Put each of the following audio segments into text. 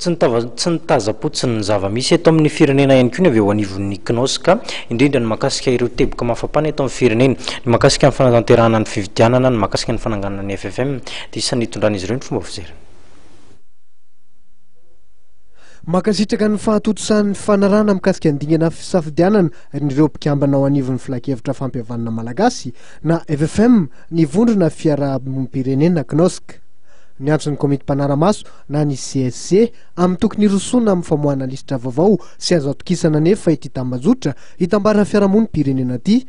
Tsy ny tava, tsy ny taza-potsiny ny zava-misy eto amin'ny firenena ihany koa ny avy eo anivon'ny CNOSC ka, indrindra ny mahakasika ireo teboka mafampana eto amin'ny firenena, ny mahakasika ny fanatanterahana ny fifidianana, ny mahakasika ny fananganana ny FFM, dia isan'ny nitondran'izy ireo ny fomba fizerana. Mankasitraka ny fahatontosan'ny fanarahana mikasika ny dingana fisafidianana an'ireo mpikambana ao anivon'ny Filankevitra Fampihavanana Malagasy na FFM ny Vondrona Fiarahabompirenena, CNOSC. Niantso ny Komity Mpanara-maso na ny CSC, amin'ny tokony hirosoana amin'ny famoahana lisitra vaovao sy azo atokisana anefa ity tambajotra hitambaran'ny fiarahamonim-pirenena ity,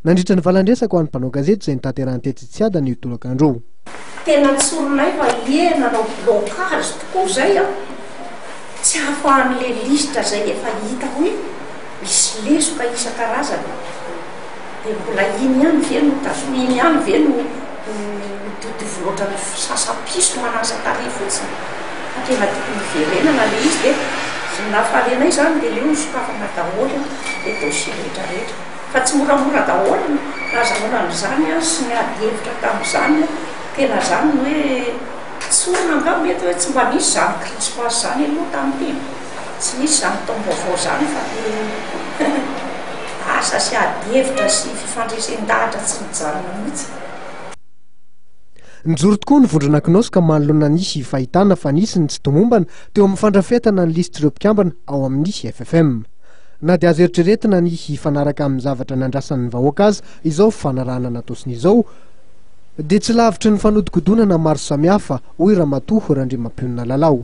nandritra ny valan-dresaka ho an'ny mpanao gazety izay notanterahany tetsy Tsiadana io tolakandro io. Tena tsorinay fa ie nanao blocage tokoa izay an! Tsy ahafahan'ilay lisitra izay efa hita hoe misy lesoka isan-karazany. dia mbola iny ihany ve no tazomina, iny ihany ve no mitovitovy loatra amin'ny fisasam-piso manasa tarehy fotsiny fa tena tokony hiverenana ilay izy dia ny lafaharenay izany dia aleo sokafana daholo ilay dossier rehetrarehetra fa tsy moramora daholo ny nazahoana an'izany sy ny ady hevitra tamin'izany, tena izany ny hoe tsy olana angamba mety hoe tsy mba nisy izany crispage izany aloha tamin'ity e! Tsy misy izany taom-baovao izany fa dia asa sy ady hevitra sy fifandresen-dahatra tsy mijanona mihitsy. Nijoro tokoa ny vondrona Knosy ka manoloana ny sy fahitana fa nisy ny tsy tomombana teo amin'ny fandrafetana ny lisitr'ireo mpikambana ao amin'ny FFM. Na dia azo eritreretina ny hifanaraka amin'ny zavatra nandrasan'ny vahoaka aza izao fanarahana natosina izao dia tsy lavitry ny fanodikodonana maro samihafa, hoy Ramatoa Randriamampionona Lalao.